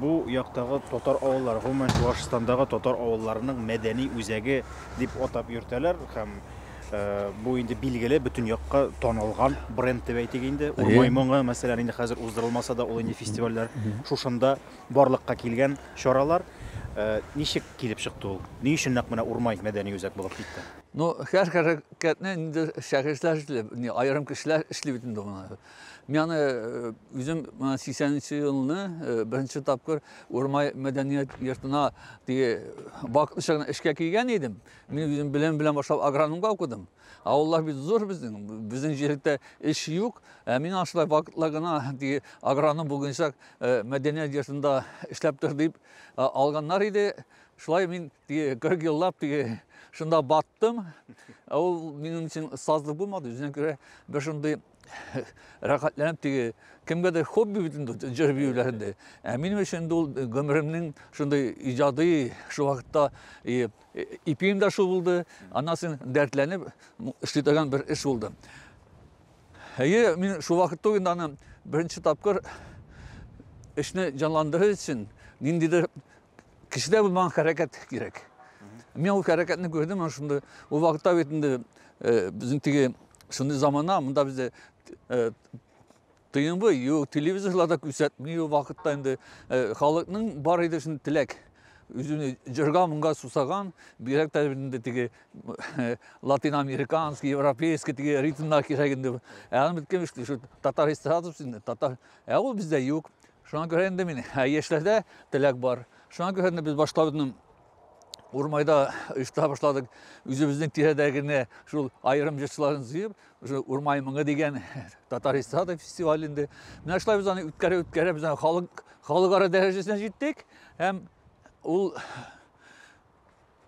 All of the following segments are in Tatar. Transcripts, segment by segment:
Бу яктагы татар авыллары, гомумән, Чуашстандагы татар авылларының мәдәни үзәге дип атап йөртәләр һәм бу инде билгеле бөтен якка танылган бренд дип әйтик инде. Урмай моңы, мәсәлән, инде хәзер уздырылмаса да, ул инде фестивальләр шушында барлыкка килгән чаралар. Э, ничек килеп чыкты ул ни өчен нәкъ менә урмай мәдәни үзәк булып китте ну һәр хәрәкәтне инде шәхесләр эшли не аерым кешеләр эшли бит инде моны Мин аны үзем 80 нче елны беренче тапкыр Урмай мәдәният йортына теге вакытлыча гына эшкә килгән идем. Мин үзем белем белән башлап агрономга укыдым. Авыллар бит зур безнең, безнең җирдә эш юк. Ә мин ашлай вакытлы гына теге агроном булганчак мәдәният йортында эшләп тор дип алганнар иде. Шулай мин Теге 40 еллап теге шунда баттым. Ә ул минем өчен сазлык булмады. Үзенә күрә бер шундый рәхәтләнеп теге кемгәдер хобби бит инде җыр биюләрендә. Ә минем өчен инде ул гомеремнең шундый иҗади шул вакытта и, ипием дә шул булды. Аннан соң дәртләнеп эшли торган бер эш булды. Әйе, мин шул вакытта ук инде аны беренче тапкыр эшне җанландырыр өчен ниндидер Кешедә булмаган хәрәкәт кирәк. Мин ул хәрәкәтне күрдем, ана шунда ул вакытта бит инде э, безнең теге шундый замана, монда бездә э, тыйынбы, юк, телевизорларда күрсәтми ул вакытта инде э, халыкның бар иде шундый теләк үзүне җырга моңга сусаган бигрәк тә инде теге латин американский европейский теге ритмнар кирәк инде ә аны беткән шул татар эстрадасы инде татар ә ул бездә юк Шуңа күрә инде мин, ә яшьләрдә теләк бар. Шуңа күрә инде без башларны урмайда оештыра башладык. Үзебезнең тирәдә генә шул аерым җырчыларын җыеп, уже урмай моңы дигән татар эстрада фестиваль инде. Менә шулай без аны үткәрә үткәрә без халык халыкара дәрәҗәсенә җиттек һәм ул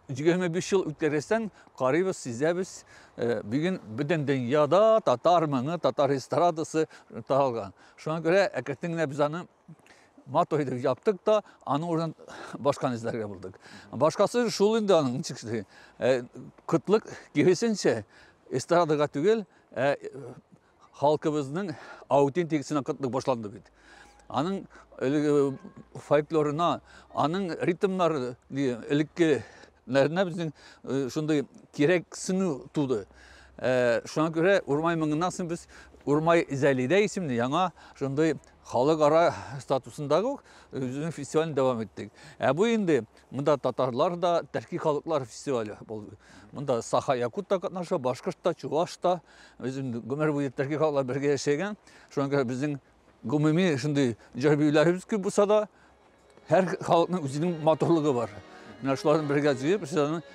25 ел үткәргәчтән карыйбыз, сизәбез. Э, бүген бөтен дөньяда татар моңы, татар эстрадасы таралган. Шуңа күрә әкрәтен генә без аны матур итеп яптык та, аны урын башканы эзләргә булдык. Башкасы шул инде аның ничексе. Э, кытлык киресенчә эстрадага түгел, ә э, Халкыбызның аутентик сынакытлык башланды бит. Аның элеге фольклорына, аның ритмнары элекке нәрнә безнең шундый кирәк сыну туды. Шуңа күрә Урмай мыңыннан соң без Урмай Зәлидә исемле яңа шундый халыкара статусындагы үзенең фестивален дәвам иттек. Ә бу инде Мында татарлар да, төрки халыклар фестивале ул. Мында саха якут та катнаша, башкорт та, чуваш та. Үзем гомер буе төрки халыклар бергә яшәгән. Шуңа күрә безнең гомуми шундый җыр биюләребез күп булса да, һәр халыкның үзенең матурлыгы бар. Менә шуларны бергә җыеп, сезне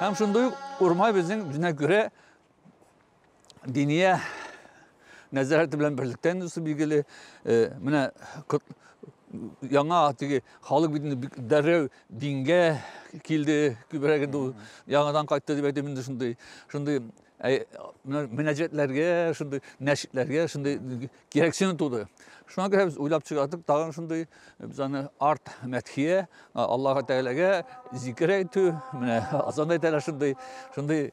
Һәм шундый ук Урмай безнең үзенә күрә Диния нәзарәте белән берлектән үсеп билгеле. Э, менә яңа теге халык бит инде дәррәү дингә килде күбрәк инде ул яңадан кайтты дип әйтәм инде шундый шундый мөнәҗәтләргә шундый нәшидләргә шундый кирәксене туды. Шуңа күрә без уйлап чыгардык тагын шундый без аны арт мәтхия, Аллаһу Тәгаләгә зикер әйтү, менә азанда әйтәләр шундый, шундый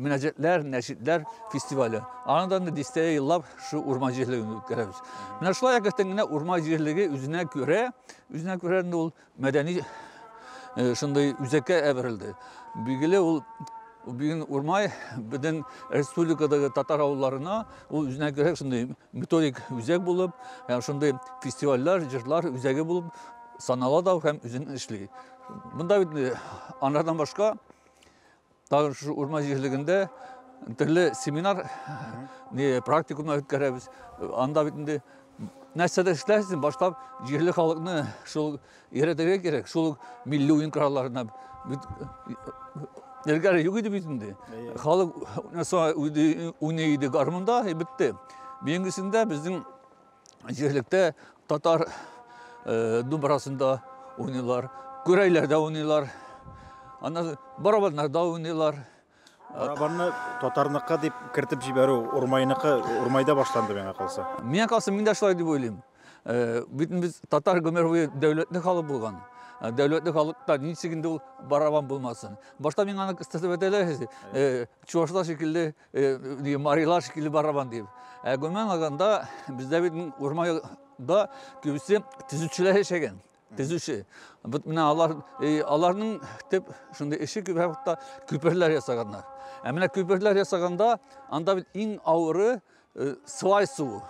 мөнәҗәтләр, нәшидләр фестивале. Аны да дистә еллап шу урман җирлегендә үткәрәбез. Менә шулай әкрәтен генә урман җирлеге үзенә күрә, үзенә күрә ул Мәдәни э, шундый үзәккә әверелде. Билгеле, ул Бүген Урмай бөтен республикадагы татар авылларына ул үзенә күрә шундый методик үзәк булып, һәм шундый фестивальләр, җырлар үзәге булып санала да һәм үзен эшли. Монда бит э, анардан башка тагын шушы урман җирлегендә төрле семинар не практикумнар үткәрәбез анда бит инде нәрсәдә эшләрсең баштап җирле халыкны шул өйрәтергә кирәк шул милли уен коралларына бит элгәре юк иде бит инде халык уйный иде гармунда и бетте бүгенгесендә безнең җирлектә татар э, думбрасында уйныйлар, күрәйләрдә уйныйлар, аннан барабаннарда уйныйлар. Барабанны татарныкы дип кертеп җибәрү урмайныкы урмайда башланды миңа калса. Миңа калса мин дә шулай дип уйлыйм. Э, бит без татар гомер буе дәүләтле халык булган. Э, дәүләтле халыкта ничек инде ул барабан булмасын. Башта миңа аны кыстырып әйтәләр. Э, чуашлар шикелле Э, Марилар шикелле барабан дип. Ә гомумән алганда, бездә бит урманда күбесе төзүчеләр яшәгән. Төзүче. Бит менә алар э, аларның төп шундый эше күп вакытта күперләр ясаганнар. Ә менә күперләр ясаганда анда бит иң авыры э, свай суы.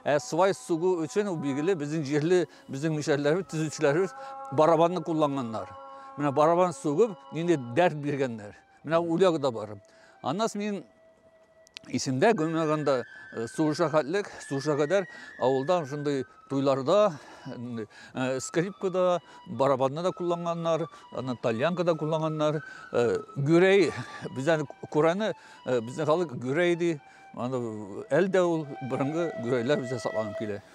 Ә свай суы өчен ул билгеле безнең җирле, безнең мишәрләребез, төзүчеләребез барабанны кулланганнар. Менә барабан сугып, нинди дәрт биргәннәр. Менә үләг дә бар. Аннан мин исемдә гөмәгәндә э, сугышка хәтлек, сугышка кадәр авылда шундый туйларда, э, скрипкада, барабанны да кулланганнар, аны тальянка да кулланганнар. Э, гүрәй, бездән күрәне, безнең халык гүрәй ди. Аны әлдә ул борынгы гүрәйләр бездә сакланып килә.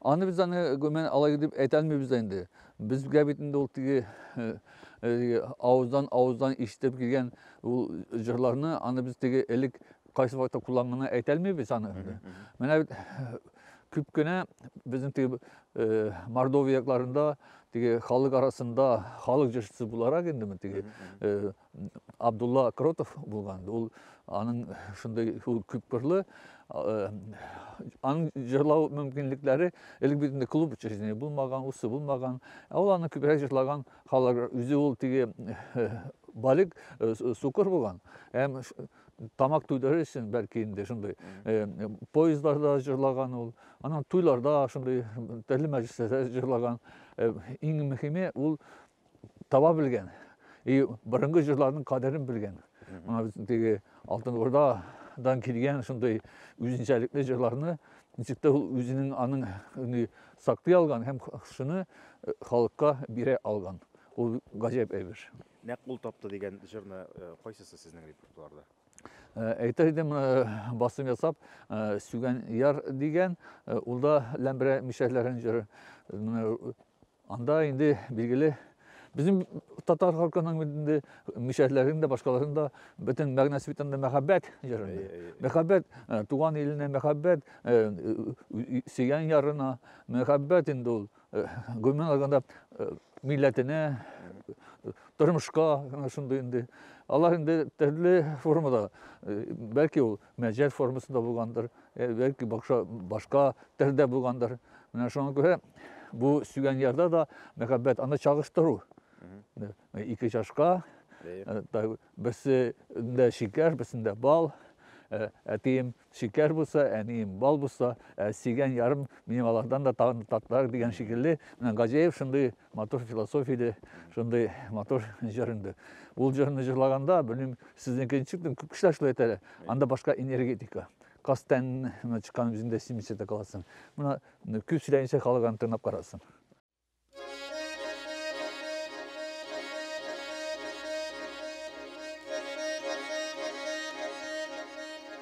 Аны без аны гомумән алай дип әйтә алмыйбыз да инде. Безгә бит инде ул теге авыздан авыздан ишетеп килгән ул җырларны аны без теге элек кайсы вакытта кулланганны әйтә алмыйбыз аны. Менә бит күп кенә безнең теге Мордовия якларында теге халык арасында халык җырчысы буларак инде теге Абдулла Кротов булган. Ул аның шундый күпкырлы аның җырлау мөмкинлекләре элек бит инде клуб учреждение булмаган, усы булмаган. Ә ул аны күбрәк җырлаган халык үзе ул теге балик сукыр булган. Һәм тамак туйдырыр өчен бәлки инде шундый поездларда җырлаган ул. Аның туйларда шундый төрле мәҗлесләрдә җырлаган. Иң мөһиме ул таба белгән и борынгы җырларның кадерен белгән мына безнең теге алтын урдадан килгән шундый үзенчәлекле җырларны ничек тә ул үзенең аның саклый алган һәм шуны э, халыкка бирә алган ул гаҗәп әйбер нәкъ ул тапты дигән җырны э, кайсысы сезнең репертуарда э, әйтер идем басым ясап сүгән яр дигән ул да ләмберә мишәрләрен җыры Анда инде билгеле безнең татар халкының инде мишәрләрен дә башкаларын да бөтен мәгънәсе бит анда мәхәббәт җырында мәхәббәт э, туган иленә мәхәббәт э, сөйгән ярына мәхәббәт инде ул э, гомумән алганда милләтенә тормышка шундый инде алар инде төрле формада бәлки ул мәҗәз формасында булгандыр, э, бәлки бакша башка телдә булгандыр. Менә шуңа күрә бу сөйгән ярда да мәхәббәт аны чагыштыру. Э, ике чашка, э, берсендә шикәр, берсендә бал. Э, әтием шикәр булса, әнием бал булса, ә сөйгән ярым минем алардан да татлырак дигән шикелле. Менә Гаҗәев шундый Матур философия иде, шундый матур җыр инде. Ул җырны җырлаганда, белмим, сезнеке ничек, кешеләр шулай әйтә әле. Анда башка энергетика. Кастән чыккан үзеңдә симсә дә каласың. Менә күп сөйләмичә халык аны тыңлап карасын.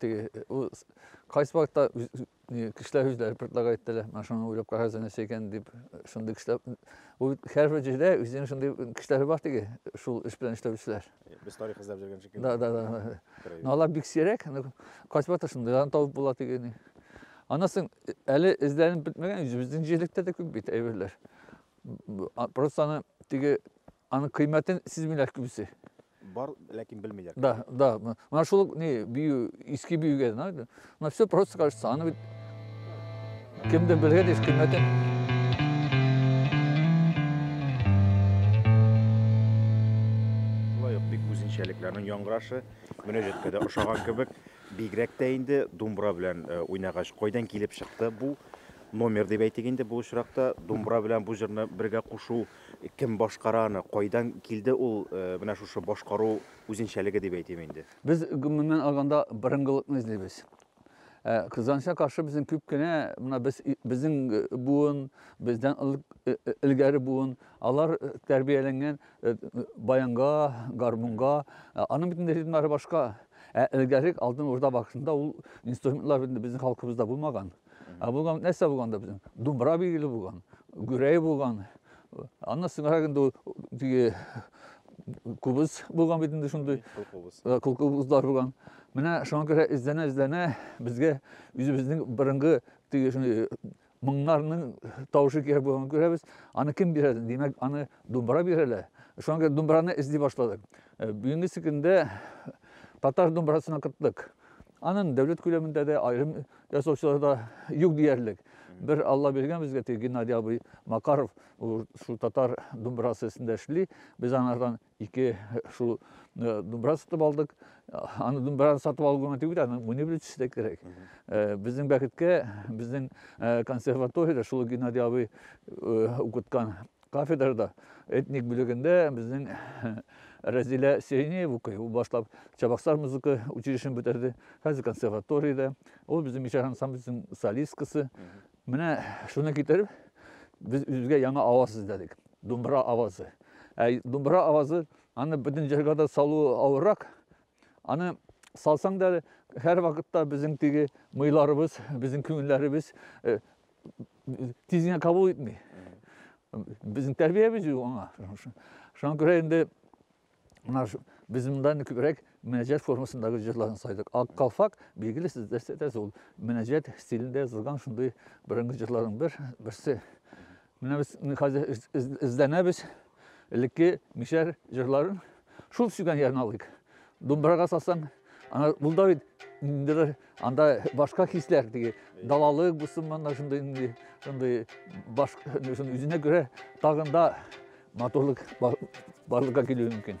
Теге ул кайсы вакытта кешеләр үзләре предлагать итәләр, менә шуны уйлап карагыз нәрсә икән дип, шундый кешеләр. Ул һәрбер җирдә үзенең шундый кешеләре бар теге, шул эш белән эшләүчеләр. Без тарих эзләп йөргән шикелле. Да, да, да. Но алар бик сирәк, кайсы вакытта шундыйларны табып була тегене. Аннан соң әле эзләнеп бетмәгән үзебезнең җирлектә дә күп бит әйберләр. Просто аны теге Аның кыйммәтен сизмиләр күбесе. Бар, ләкин белмиләр. Да, да. Менә шул ни бию, иске биюгә, на все просто кажется, аны бит кемдер белгән еш кыйммәтен. үзенчәлекләрнең яңгырашы мөнәҗәткә дә ошаган кебек бигрәк тә инде думбра белән э, уйнагач кайдан килеп чыкты бу номер дип әйтик инде бу очракта думбра белән бу җырны бергә кушу Кем башкара аны, кайдан килде ул менә шушы башкару үзенчәлеге дип әйтим инде? Без, гомумән алганда, борынгылыкны эзлибез. Ә кызганычка каршы безнең күп кенә менә без безнең буын, бездән элгәре буын, алар тәрбияләнгән баянга, гармунга, аның бит инде ритмнары башка. Ә элгәре алтын урда вакытында ул инструментлар бит безнең халкыбызда булмаган. Ә булган нәрсә булганда безнең? Думбра билгеле булган, гүрәй булган. Аннан соңрак инде теге кубыз булган бит инде шундый. Кул кубызлар булган. Менә шуңа күрә эзләнә эзләнә безгә үзебезнең борынгы теге шундый моңнарның тавышы кирәк булганын күрәбез. Аны кем бирә? Димәк, аны думбра бирәләр. Шуңа күрә думбраны эзли башладык. Э, бүгенге көндә татар думбрасына кыттык. Анын дәүләт күләмендә дә, аерым Ясаучыларда юк диярлек. Бер Алла биргән безгә теге Геннадий абый Макаров, ул шул татар думбрасы өстендә эшли. Без анардан ике шул э, думбра сатып алдык. Аны думбраны сатып алу гына түгел, аны мунибрить эшләргә кирәк. Э, Безнең бәхеткә, безнең э, консерваториядә шул Геннадий абый э, укыткан Кафедрада этник бүлегендә безнең Рәзилә Сеенеева укый. Ул башлап Чабаксар музыка училищесын бетерде. Хәзер консерваториядә. Ул безнең Мишәр ансамблесының солисткасы. Менә шуны китереп, без үзгә яңа аваз эзләдек. Думбра авазы. Ә думбра авазы аны бөтен җырга да салу авыррак. Аны салсаң да һәр вакытта безнең теге мыйларыбыз, безнең күңелләребез э, тизенә кабул итми безнең тәрбиябез юк аңа шуңа күрә инде мына без монда күбрәк мөнәҗәт формасындагы җырларны сайдык ак калфак билгеле сез дәрсәтәсез ул мөнәҗәт стилендә язылган шундый борынгы җырларның бер берсе менә без хәзер эзләнәбез Элекке мишәр җырларын шул сөйгән ярын алыйк. Думбырага салсаң, ана ул да бит ниндидер анда башка хисләр теге далалык булсын монда шундый инде шундый баш үзенә күрә тагын да матурлык барлыкка килүе мөмкин.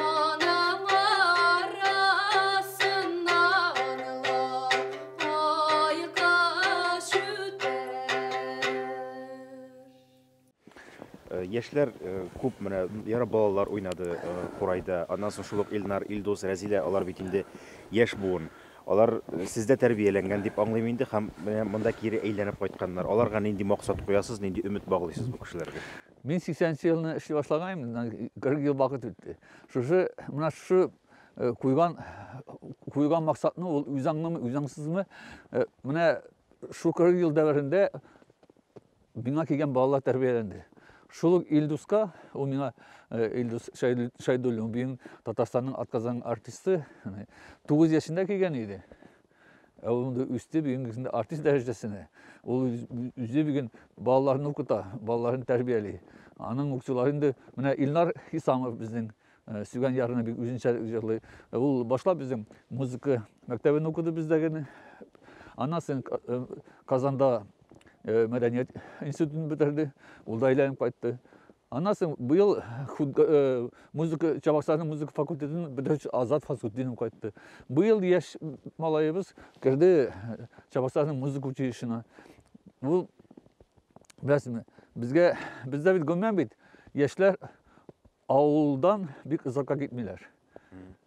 Аның арасында онлы ай кыш үтәр. Яшьләр күп менә ярап балалар уйнады курайда. Аннан соң шул ук Илнар, Илдус, Рәзилә алар бит инде яшь буын. Алар сездә тәрбияләнгән дип аңлыйм инде һәм менә монда кире әйләнеп кайтканнар. Аларга нинди максат куясыз, нинди өмет баглыйсыз бу кешеләргә? Мин 80 нче елны эшли башлаганым, моннан 40 ел вакыт үтте. Шушы менә шушы куйган куйган максатны ул үзаңнымы, үзаңсызмы? Менә шу 40 ел дәверендә миңа килгән балалар тәрбияләнде. Шул ук Илдуска, ул миңа Илдус Шайдуллин, бин Татарстанның атказан артисты, 9 яшендә килгән иде. Ә ул инде үсте бүген инде артист дәрәҗәсенә. Ул үзе бүген балаларны укыта, балаларын тәрбияли. Аның укытучылары инде менә Илнар Хисамов безнең э, сөйгән ярына бик үзенчә җырлый. Э, ул башлап безнең музыка мәктәбен укыды бездә генә. Аннан соң э, Казанда мәдәният институтын бетерде. Ул да әйләнеп кайтты. Аннан соң быел музыка Чабаксарның музыка факультетын бетерүче Азат Фасутдинов кайтты. Быел яшь малаебыз керде Чабаксарның музыка училищесына. Бу беләсезме, безгә бездә бит гомумән бит яшьләр авылдан бик озакка китмиләр.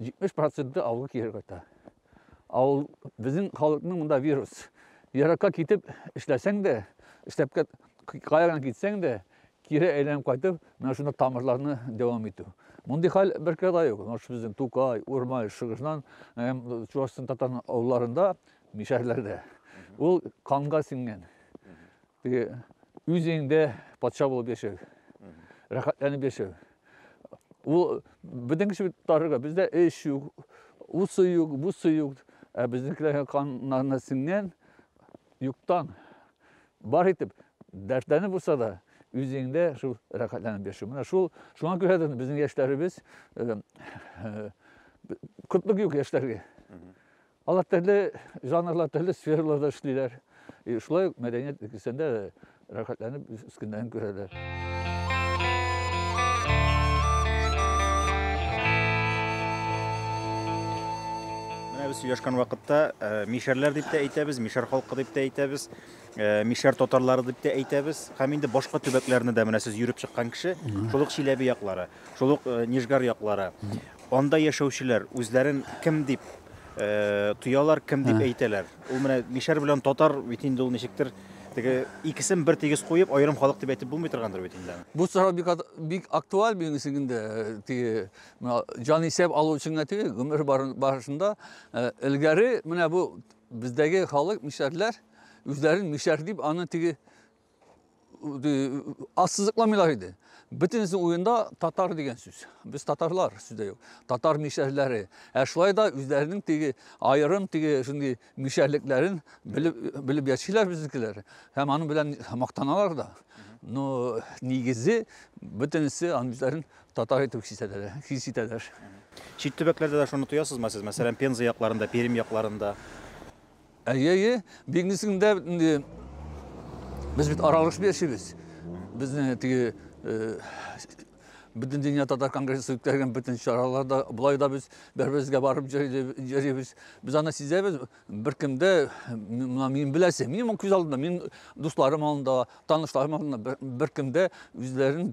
70 проценты авылга кире кайта. Авыл безнең халыкның монда вирус. Еракка китеп эшләсәң дә, эшләпкә каяган китсәң дә, кире әйләнеп кайтып, менә шунда тамырларны дәвам итү. Мондый хәл бер кирдә юк. Наш безнең Тукай, Урмай, Шыгышнан, Чувашстан татар авылларында, мишәрләрдә. Ул канга сиңгән. Теге үзеңдә патша булып яшәү. Рәхәтләнеп яшәү. Ул безнең кеше тарыга, бездә эш юк, усы юк, бусы юк. Ә безнекеләргә каннарына сеңгән юктан бар итеп дәртләнеп булса да үзеңдә шул рәхәтләнеп яшәү. Менә шул шуңа күрә дә безнең яшьләребез э, э, кытлык юк яшьләргә. Алар төрле жанрлар, төрле сфераларда эшлиләр. И шулай ук мәдәният өлкәсендә дә рәхәтләнеп үз көннәрен күрәләр. Менә без сөйләшкән вакытта э, мишәрләр дип тә әйтәбез, мишәр халкы дип тә әйтәбез, э, мишәр татарлары дип тә әйтәбез. Һәм инде башка төбәкләрне дә менә сез йөреп чыккан кеше, шул ук Чиләбе яклары, шул ук э, Нижгар яклары. Анда яшәүчеләр үзләрен кем дип тоялар, кем дип әйтәләр. Ул менә мишәр белән татар бит инде ул ничектер теге икесен бер тигез куеп, аерым халык дип әйтеп булмый торгандыр бит инде. Бу сорау бик бик актуаль минем өчен инде. Теге менә җан исәп алу өчен генә түгел, гомер барышында элгәре менә бу бездәге халык мишәрләр үзләрен мишәр дип аны теге ассызыкламыйлар иде. Бөтенесе уенда татар дигән сүз. Без татарлар сүздә юк. Татар мишәрләре. Ә шулай да үзләренең теге аерым теге шундый мишәрлекләрен белеп белеп яшиләр безнекеләр. Һәм аның белән мактаналар да. Но нигезе бөтенесе анларны татар итеп хис итәләр. Хис итәләр. Чит төбәкләрдә дә шуны тоясызмы сез? Мәсәлән, Пенза якларында, Пермь якларында. Әйе, әйе, бик нисең дә бит инде. Без бит аралашып яшибез. Безне теге э, бөтен дөнья татар конгрессы үткәргән бөтен чараларда болай да без бер-беребезгә барып йөрибез. Без аны сизәбез. Беркемдә мына мин беләсе, мин моң күз алдында, мин дусларым алдында, танышларым алдында беркемдә үзләрен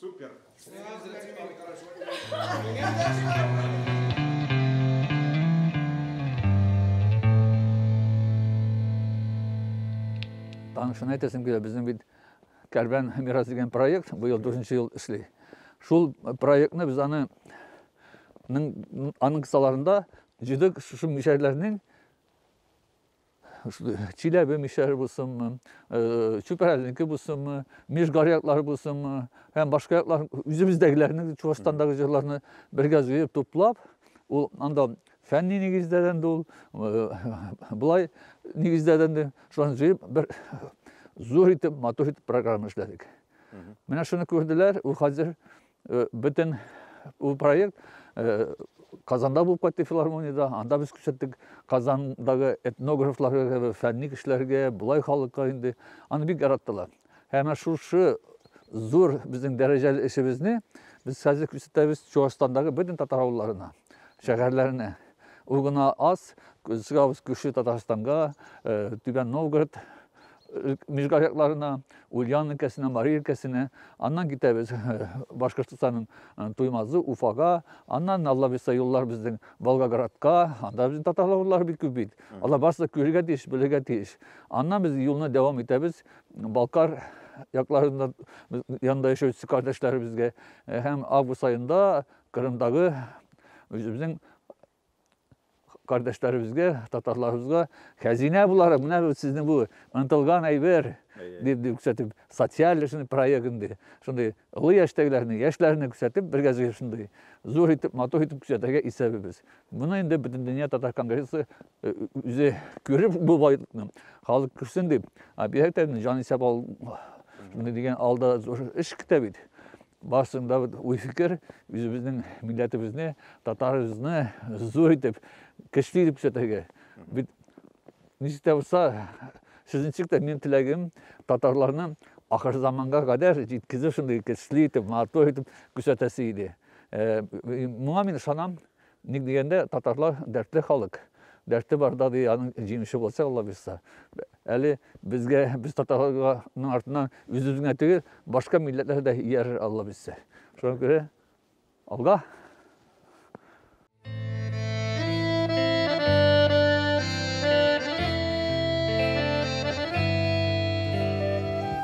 Супер! Танышына әйтәсем килә, безнең бит Кәрбән мирас дигән проект быел дүртенче ел эшли. Шул проектны без аны аның кысаларында җидек шушы мишәрләрнең Чиләбе мишәре булсынмы, Чүпрәленеке булсынмы, Мишгар яклары булсынмы, һәм башка яклар үзебездәгеләрне, Чувашстандагы җырларны бергә җыеп туплап, ул анда фәнни нигездәдән дә ул, болай нигездәдән дә шуларны җыеп бер зур итеп, матур итеп программа эшләдек. Менә шуны күрделәр, ул хәзер Бөтен ул проект Казанда булып кайтты филармониядә. Анда без күрсәттек Казандагы этнографларга, фәнни кешеләргә, болай халыкка инде. Аны бик яраттылар. Һәм шушы зур безнең дәрәҗәле эшебезне без хәзер күрсәтәбез Чуашстандагы бөтен татар авылларына, шәһәрләренә. Ул гына аз, чыгабыз күрше Татарстанга, Түбән Новгород, Мижгар якларына, Ульян өлкәсенә, Мари өлкәсенә, аннан китәбез Башкортостанның Туймазы, Уфага, аннан Алла бирса юллар безнең Волгоградка, анда безнең татарлар урлары бик күп бит. Алар барысы да күрергә тиеш, белергә тиеш. Аннан без юлны дәвам итәбез Балкар якларында янында яшәүче кардәшләребезгә һәм август айында Кырымдагы үзебезнең кардәшләребезгә, татарларыбызга хәзинә буларак, менә бу сезнең бу ынтылган әйбер дип күрсәтеп, социаль шундый проект инде. Шундый олы яшьтәгеләрне, яшьләрне күрсәтеп, бергәзгә шундый зур итеп, матур итеп күрсәтергә исәбебез. Моны инде бөтен дөнья татар конгрессы э, үзе күреп бу байлыкны халык күрсен дип, объектны җан исәп ал шундый дигән алда зур эш көтә бит. Барсын да уй фикер, үзебезнең милләтебезне, татарыбызны зур итеп, көчле итеп күрсәтергә. Бит ничек тә булса, сезнең тә минем теләгем татарларны ахыр заманга кадәр җиткезү шундый көчле итеп, матур итеп күрсәтәсе иде. Моңа мин ышанам. Ник дигәндә, татарлар дәртле халык. Дәрте барда, ди, аның җиңүче буласы, аллабирса. Әле безгә, без татарларның артыннан үзебез генә түгел, башка милләтләр дә иярер, аллабирса. Шуңа күрә алга!